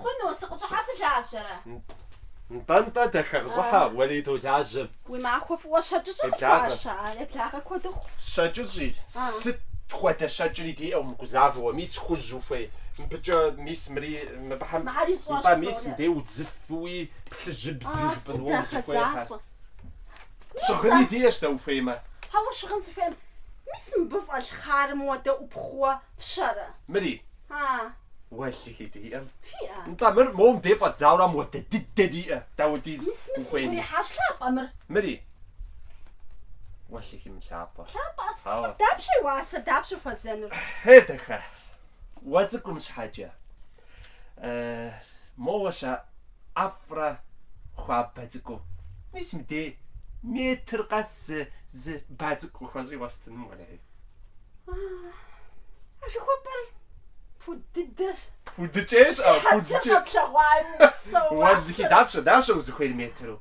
Хъуну, сыкъыщӏыхьэ фылажьэрэ? Нтӏэ-нтӏэ, дахэ, къыщӏыхьэ, уэлей долажьэ. Уи махуэ фӏыуэ щэкӏыщӏэ къыфхуаша? А, еблагъэ куэду хъу. Щэкӏыщӏи, сыт хуэдэ щэкӏри диӏэу мыгузавэуэ, мис хужь ухуей, мыбыкӏэ, мис мыри, мыбыхэм, нтӏэ, мис мыбдей удзыфэуи, плъыжьыбзу жыпӏын уэ узыхуейхэ. Щыгъыни диӏэщ дэ ухуеймэ. Хьэуэ щыгъын сыхуейкъым. Мис мыбы фӏэлъ хъарым хуэдэ ӏупхъууэ фщэрэ? Мыри. А. Уэлэхьи диӏэм. Фиӏэ. Нтӏэ мыр мобдей фӏэддзаура модэ дыдэ диӏэ, дапхуэдиз ухуейми. Мис мыр сигу ирихьащ, лъапӏэ мыр. Мыри. Уэлэхьи мылъапӏэ. Лъапӏэ а сыту Ауэ. фӏы, дапщэ и уасэр, дапщэ хуэзэнур? Хье, дахэ. Уэ цӏыкӏум щхьэкӏэ. Моуэ ща ӏэфӏрэ хуабэ цӏыкӏу. Мис мыдей метр къэс зы зы ба цӏыкӏу къысхуэщӏи уэстыным уэлей. А жыхуэпӏэр пуд дыдэщ. Пудыкӏейщ, а пудыкӏей. Къэплъэгъуаи псэуащ. Уэр зыхи дапщэ, дапщэ узыхуейр метру?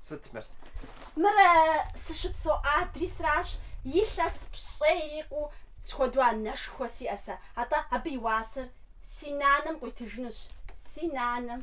Сыт мыр? Мыр сыщыпсэу адресращ, илъэс пщӏей ирикъуу схуэдэу анэшхуэ сиӏэ сэ, атӏэ абы и уасэр си нанэм къуитыжынущ, си нанэм.